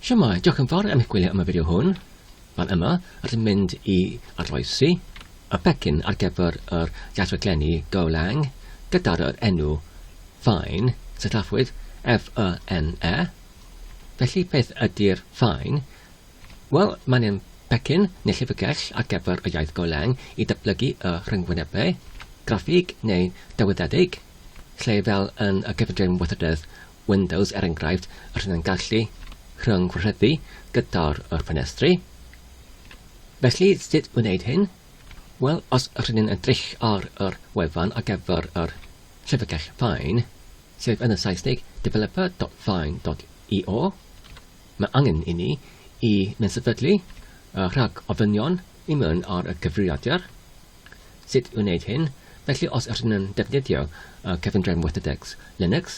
Shwmae, diolch yn fawr am eich gwylio am y fideo hwn. Fan yma, rydym mynd i arloesi y pecyn ar gyfer yr iaith-raglenni Golang gyda'r yr enw Fine, sillafwyd F-Y-N-E. Felly, beth ydy'r Fine? Wel, mae'n ein pecyn neu llyfrgell ar gyfer y iaith Golang i datblygu y rhyngwynebau, graffig neu dawydedig, lle fel yn y cyfundrefn weithrededd Windows er enghraifft, rydyn yn gallu rhyng-gwareddu gyda'r yr ffenestri. Felly, sut wneud hyn? Wel, os rydyn yn edrych ar yr wefan ar gyfer yr llyfrgell Fine, sef yn y Saesneg developer.fine.io, mae angen i ni i mynd sefydlu y rhag ofynion i mewn ar y cyfrifiadur. Sut i wneud hyn, Felly os ydyn yn defnyddio cyfundrefn WorthIndex Linux,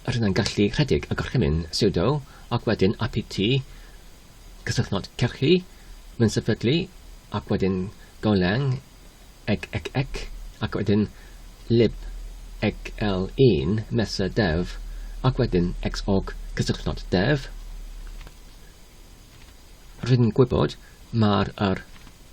rydyn yn gallu rhedeg y gorchymyn sudo ac wedyn apt cysylltnod cyrchu mewn sefydlu ac wedyn golang egecec ac wedyn lib egl1 mesa dev ac wedyn xorg cysylltnod dev. Rwy'n gwybod mae'r yr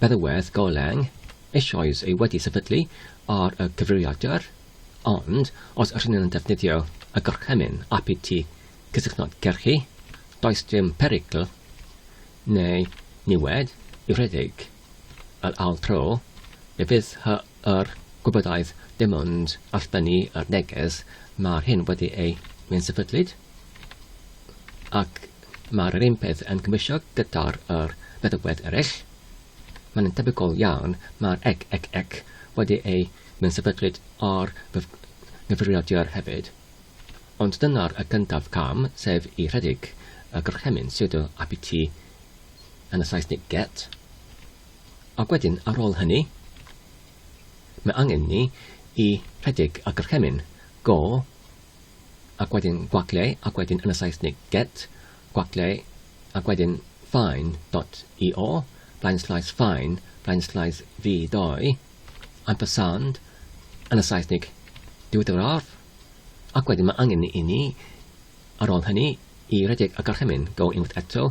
Beddywedd Goleung eisoes ei wedi sefydlu ar y gyfrifiadur, ond os rŷn yn defnyddio y gorchymyn apt i gysylltnod gerrhi, does dim perygl neu niwed i redeg yr ail tro, fe fydd y Er gwybodaeth dim ond allbynnu ar neges mae'r hyn wedi ei mensefydlyd ac mae'r yr un peth yn cymwysio gyda'r yr feddygfedd ereill mae'n yn tebygol iawn mae'r ec ec ec wedi ei mensefydlyd ar fyf nghyfrifiadur hefyd ond dyna'r y cyntaf cam sef i rhedeg y gorchymyn sudo apt yn y saesnig get Ac wedyn ar ôl hynny, mae angen ni i rhedeg a gorchymyn, go, ac wedyn gwagleau, ac wedyn yn y Saesnig get, gwagleau, ac wedyn fine dot io, blaenslaes fine, blaenslaes V2, ampersand, yn y Saesnig diweddaraf, ac wedyn mae angen i ni, ar ôl hynny, i rhedeg a gorchymyn, go unwaith eto,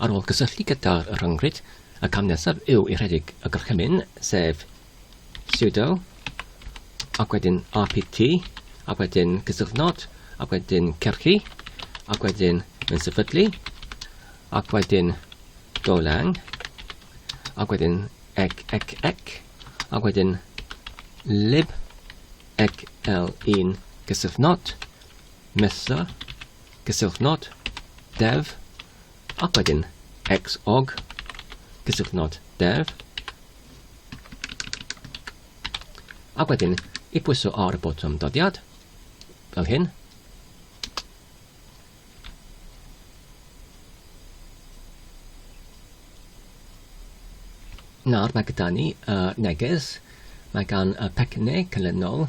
Ar ôl cysylltu gyda'r rhyngrwyd, y cam nesaf yw i rhedeg y gorchymyn, sef sudo ac wedyn rpt ac wedyn cysylltnod ac wedyn cyrchu ac wedyn yn sefydlu ac wedyn dolang ac wedyn ec ec ec ac wedyn lib ec l1 cysylltnod mesa Cyswllt nod, dev, ac wedyn xog, cyswllt nod, dev, ac wedyn i pwyso ar y botwm dodiad, fel hyn. Nawr mae gyda ni uh, neges, mae gan y pecynnau canlynol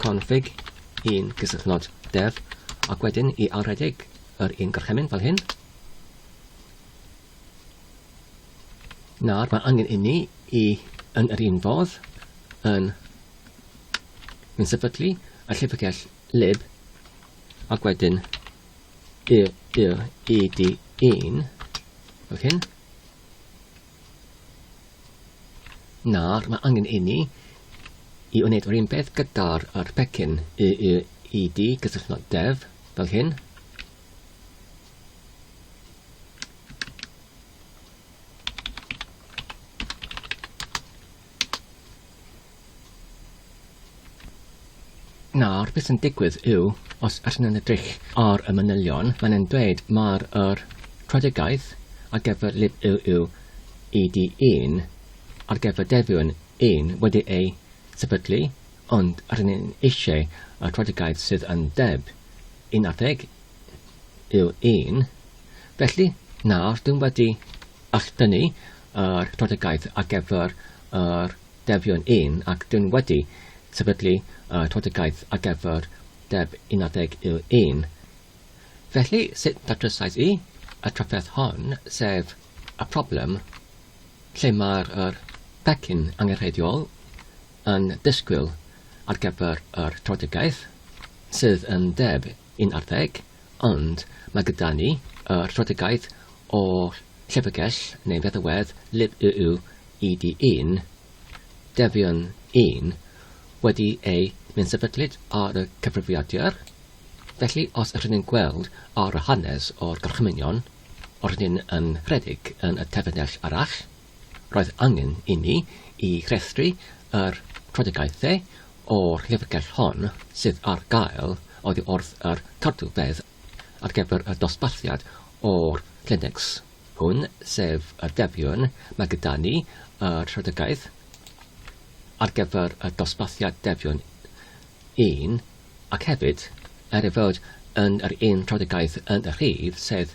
config un gysylltnod dev ac wedyn i ailredeg yr un gorchymyn fel hyn. Nawr mae angen inni i yn yr un fodd yn mynd sefydlu y llyfrgell lib ac wedyn y, y, ed un fel hyn. Nawr, mae angen inni i wneud yr un peth gyda'r yr pecyn y y i di gysylltnod dev, fel hyn. Nawr, beth sy'n digwydd yw, os ydyn nhw'n edrych ar y manylion, maen nhw'n dweud mae'r yr strategaeth ar gyfer lib UU ED1 ar gyfer defion 1 wedi ei sefydlu, ond ydyn nhw'n eisiau y strategaeth sydd yn deb un adeg yw un. Felly, nawr, dwi'n wedi All dynnu yr strategaeth ar gyfer yr defion un ac dyn wedi sefydlu y strategaeth ar gyfer deb unadeg iw un. Felly sut dadrysais i y trafferth hon, sef y problem lle mae'r yr pecyn angenrheidiol yn disgwyl ar gyfer yr strategaeth sydd yn deb yn arddeg, ond mae gyda ni y strategaeth o'r llyfrgell neu feddalwedd lib YU ED un, Defion un, wedi ei menysefydlyd ar y cyfrifiadur, felly os rydyn ni'n gweld ar y hanes o'r gorchmynion, rydyn ni'n rhedeg yn y terfynell arall. Roedd angen inni i restru yr trafodaethau o'r llyfrgell hon sydd ar gael oddi wrth yr cadw fedd ar gyfer y dosbarthiad o'r Kleenex hwn, sef y defion, mae gyda ni y trafodaeth ar gyfer y dosbarthiad defion un ac hefyd, er ei fod yn yr un trafodaeth yn y rhif sedd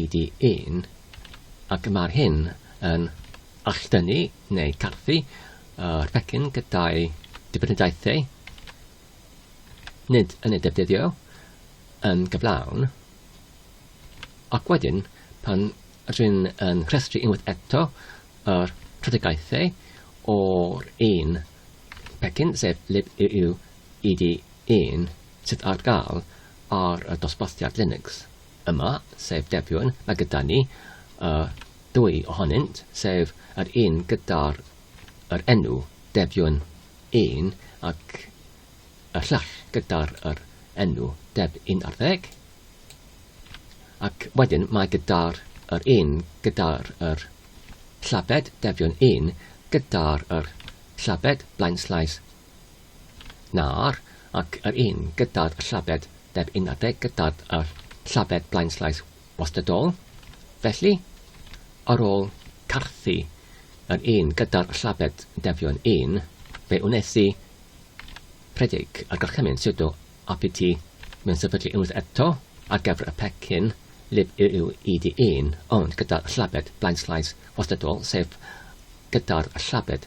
EDIn, ac mae'r hyn yn alldynnu neu garthu yr pecyn gyda'i dibenidaethau, nid yn ei defnyddio yn gyflawn, ac wedyn pan rŷn yn rhestru unwaith eto yr rhydygaethau o'r un pecyn, sef lib yw EDIn, sydd ar gael ar y dosbarthiad Linux. yma, sef Debiwr, mae gyda ni y ddwy ohonynt, sef yr un gyda'r yr enw Debiwr un ac y llall gyda'r yr enw Deb 11. Ac wedyn mae gyda'r yr un gyda'r yr llabed Debiwr un gyda'r yr llabed blaenslais Nawr, ac yr un gyda'r llabed deb un adeg gyda'r llabed blaenllaeth wastadol, felly, ar ôl carthu yr un gyda'r llabed defion un, fe wnes i rhedeg y gorchymyn sudo apt mewn sefydlu unwaith eto ar gyfer y pecyn libuid1, ond gyda'r llabed blaenllaeth wastadol, sef gyda'r llabed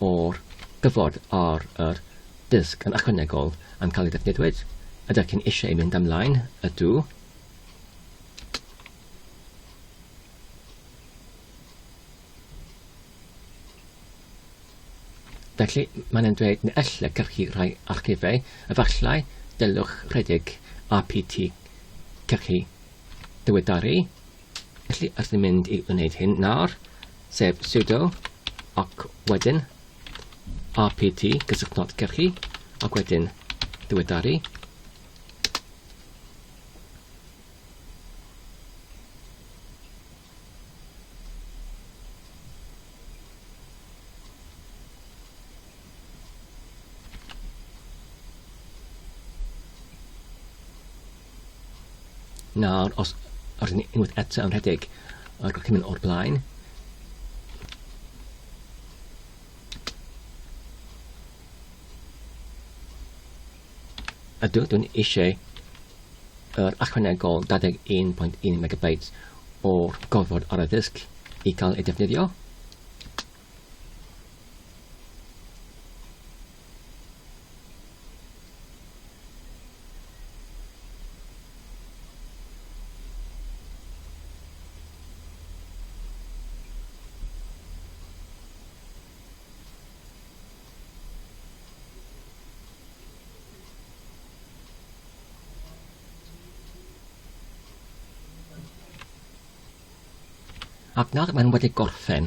o'r gyfod ar yr dysg yn ychwanegol yn cael ei ddefnyddiwyd. Ydych chi'n eisiau ei mynd ymlaen? Ydw. Felly, mae'n yn dweud na elle cyrchu rhai archifau, efallai dylwch rhedeg APT cyrchu diweddaru. Felly, os ni'n mynd i wneud hyn nawr, sef sudo, ac wedyn rpt, gyswllt not cyrchu, ac wedyn diweddaru. Nawr, os rydyn ni unwaith eto yn rhedeg ar gychymyn o'r blaen, ydw, dwi'n eisiau yr achwanegol 21.1 MB o'r gorfod ar y ddisg i cael ei defnyddio. Ac nawr mae'n wedi gorffen.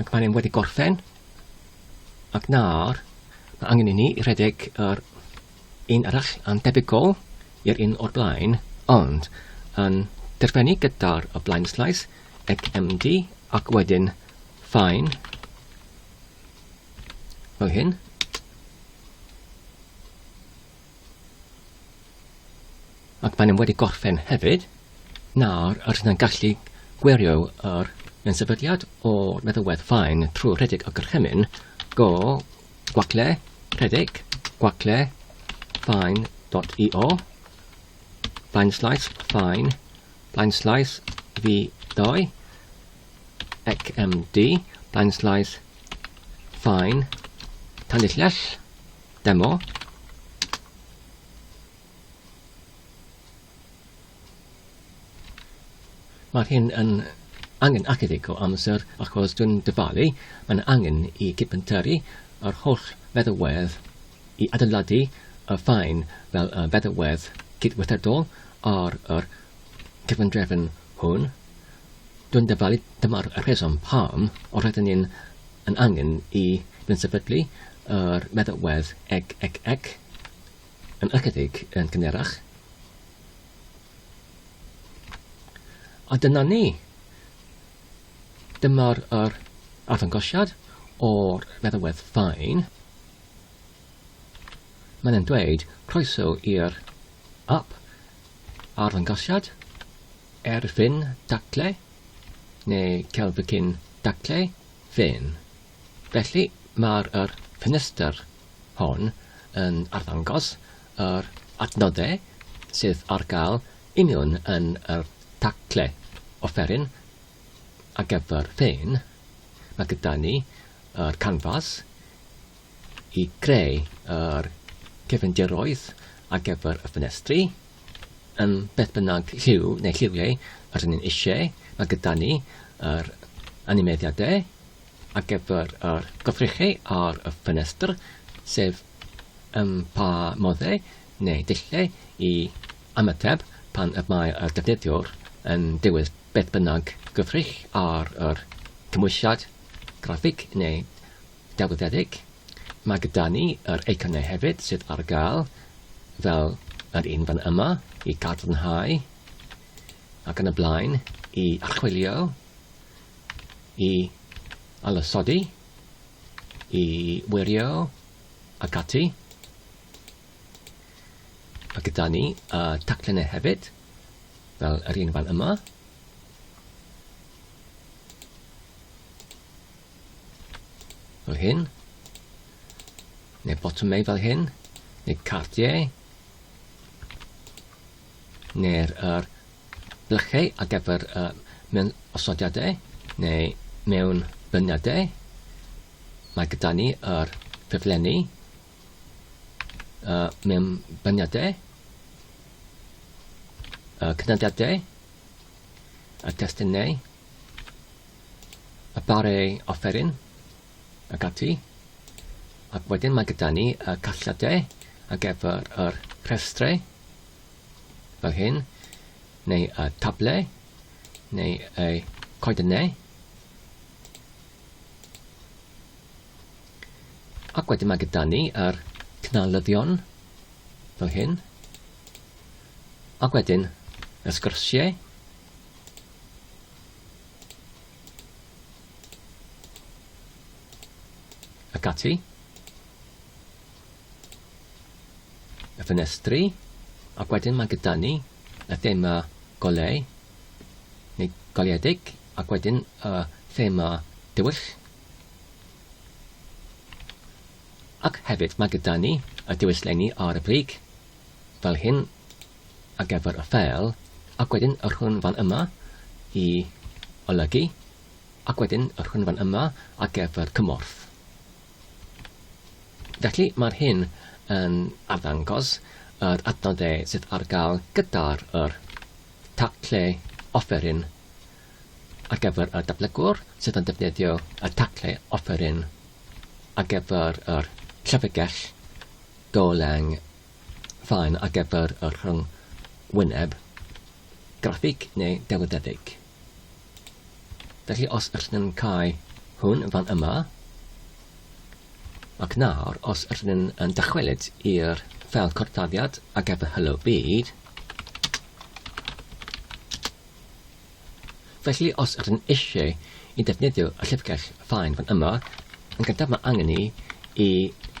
Ac mae'n ein wedi gorffen. Ac nawr, mae angen i ni i redeg yr un arall yn debygol i'r un o'r blaen, ond yn derfennu gyda'r y blaen slais, ec MD, ac wedyn ffain, fel hyn. Ac maen nhw wedi gorffen hefyd. Nawr, os yna'n gallu gwirio yr yn sefydliad o'r meddywedd fain trwy rhedeg y gorchymyn, go gwacle, rhedeg, gwacle, fain.io, fain slaes, fain, fain slaes, fi doi, XMD, blaen slaes, fine, tanillell, Demo. Mae hyn yn angen ychydig o amser achos dwi'n dyfalu, mae'n angen i cipenteri yr holl feddywedd i adeiladu y ffaen fel y feddywedd cydweithredol ar yr cyfundrefn hwn. Dwi'n dyfalu, dyma'r rheswm pam rydyn ni'n yn angen i gyn-sefydlu yr meddalwedd eg, eg, eg yn ychydig yn gynharach. A dyna ni. Dyma'r yr arddangosiad o'r meddalwedd ffain. Mae'n dweud croeso i'r app arddangosiad, erfyn daclau, neu celfycyn daclau fen. Felly mae'r yr ffenestr hon yn arddangos yr adnoddau sydd ar gael i mewn yn yr taclau offeryn ar gyfer fen. Mae gyda ni yr canfas i greu yr cyfindiroedd ar gyfer y ffenestri, yn beth bynnag lliw neu lliwiau yr ni'n eisiau, mae gyda ni yr animeiddiadau ar gyfer yr gofrechau ar y ffenestr, sef ym pa moddau neu dulliau i ymateb pan y mae y defnyddiwr yn dewis beth bynnag gyfrich ar yr cymwysiad graffig neu Delweddedig. Mae gyda ni yr eiconau hefyd sydd ar gael fel yr un fan yma i gadarnhau ac yn y blaen i archwilio, i alysodi, i wirio ac ati. Mae gyda ni y taclenau hefyd, fel yr un fan yma. fel hyn, neu botwm neu fel hyn, neu cardiau, neu'r er blychau ar gyfer uh, mewn osodiadau neu mewn byniadau. Mae gyda ni yr ffurflenni uh, mewn byniadau, uh, cynadiadau, y testunau, y bare offeryn ac ati, ac wedyn mae gyda ni y casgliadau ar gyfer yr rhestrau fel hyn, neu y tablau, neu y coedynau. Ac wedyn mae gyda ni yr cnalyddion fel hyn, ac wedyn y sgyrsiau Ac ati. Y ffenestri. Ac wedyn mae gyda ni y thema golau, neu goleuedig, ac wedyn y thema dywyll. Ac hefyd mae gyda ni y dywyll lenni ar y brig, fel hyn, ar gyfer y ffeil, ac wedyn y rhwng fan yma i olygu, ac wedyn y rhwng fan yma ar gyfer cymorth. Felly mae'r hyn yn arddangos yr adnoddau sydd ar gael gyda'r yr tacle offeryn ar gyfer y datblygwr sydd yn defnyddio y tacle offeryn ar gyfer yr llyfrgell golang faen ar gyfer y rhyngwyneb graffig neu delweddedig. Felly os ydyn ni'n cael hwn fan yma, ac nawr os ydyn ni'n dychwelyd i'r ffel corffaddiad ar gyfer Hello Byd, Felly os ydyn eisiau i ddefnyddio y llyfrgell faen fan yma, yn gyntaf mae angen ni i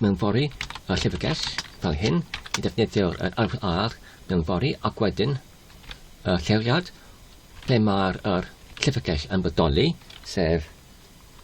mewnfori y llyfrgell fel hyn i ddefnyddio yr arwydd ar mewnfori ac wedyn y lleoliad ble mae'r llyfrgell yn bodoli, sef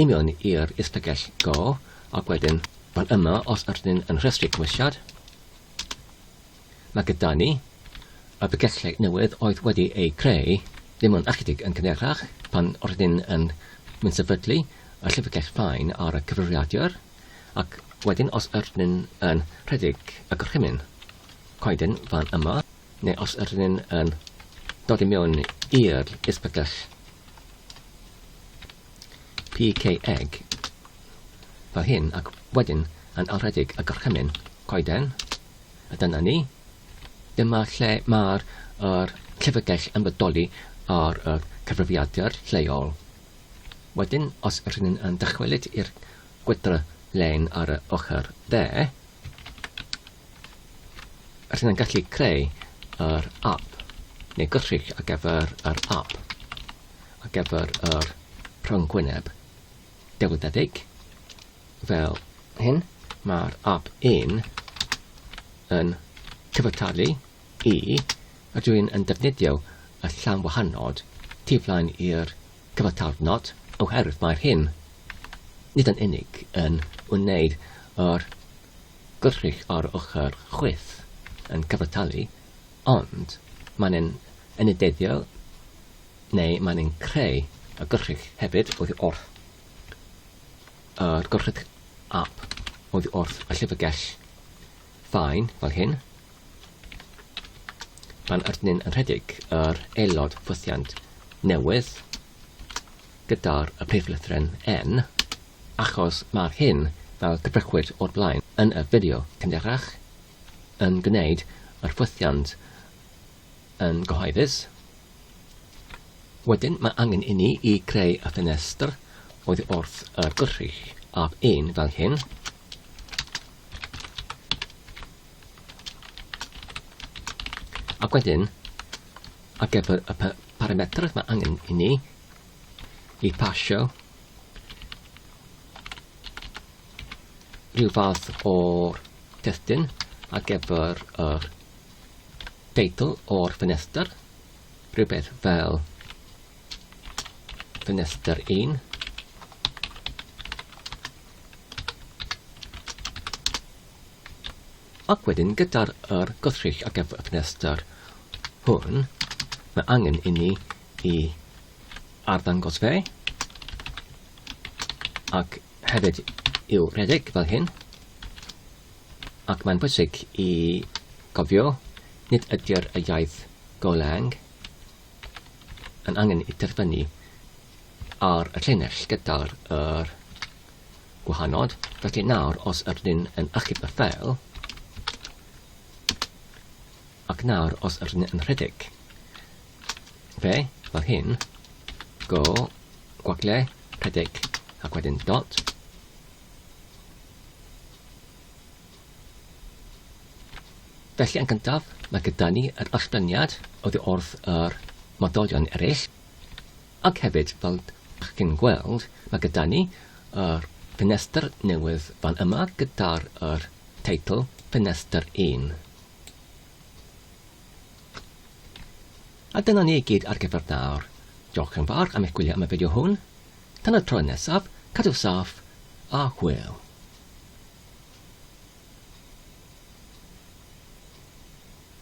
I mewn i'r Is-pegell Go, ac wedyn fan yma os ydyn ni yn rhestru cymwysiad, mae gyda ni y pegellau newydd oedd wedi eu creu ddim yn ychydig yn gynharach pan rydyn yn mynd sefydlu y llyfrgell fain ar y cyfrifiadur, ac wedyn os ydyn yn rhedeg y gorchymyn coeden fan yma, neu os ydyn yn dod i mewn i'r Is-pegell PKeg fel hyn ac wedyn yn alredig y gorchymyn coeden, a dyna ni. Dyma lle mae'r yr llyfrgell yn bodoli ar y cyfrifiadur lleol. Wedyn, os ydych chi'n yn dychwelyd i'r gwydr len ar y ochr dde, Rydyn yn gallu creu yr app neu gyllid ar gyfer yr app ar gyfer yr rhyngwyneb delweddig fel hyn. Mae'r app un yn cyfartalu i a dwi'n yn defnyddio y llan wahanod tu flaen i'r cyfartalnod oherwydd mae'r hyn nid yn unig yn wneud yr Gwrthrych ar ochr chwith yn cyfartalu, ond mae'n un enydediol neu mae'n un creu y gwrthrych hefyd oddi wrth yr gwrthrych ap oddi wrth y llyfrgell fain fel hyn. Mae'n ardyn yn rhedeg yr aelod ffwythiant newydd. gyda'r priflythren N, achos mae'r hyn, fel cyfrychwyd o'r blaen yn y fideo cynharach, yn gwneud yr ffwythiant yn gyhoeddus. Wedyn mae angen i ni i greu y ffenestr oddi wrth y gwrych ab un fel hyn. Ac wedyn Ar gyfer y parametrau mae angen i ni i pasio rhyw fath o'r testyn ar gyfer yr teitl o'r ffenestr, rhywbeth fel ffenestr 1. Ac wedyn gyda'r yr gwrthrych ar gyfer y ffenestr hwn, mae angen inni i arddangos fe, ac hefyd i'w redeg fel hyn, ac mae'n bwysig i gofio nid ydy'r y iaith Golang yn angen i terfynu ar y llinell gyda'r yr gwahanol, felly nawr os ydyn yn achub y ffeil, ac nawr os ydyn yn rhedeg fe fel hyn, go, gwagle, rhedeg, ac wedyn dot, Felly yn gyntaf, mae gyda ni yr allbyniad oddi wrth yr modolion eraill, Ac hefyd, fel dych chi'n gweld, mae gyda ni yr ffenestr newydd fan yma gyda'r yr teitl Ffenestr Un. A dyna ni i gyd ar gyfer nawr. Diolch yn fawr am eich gwylio am y fideo hwn. Tan y tro nesaf, cadw saff a hwyl.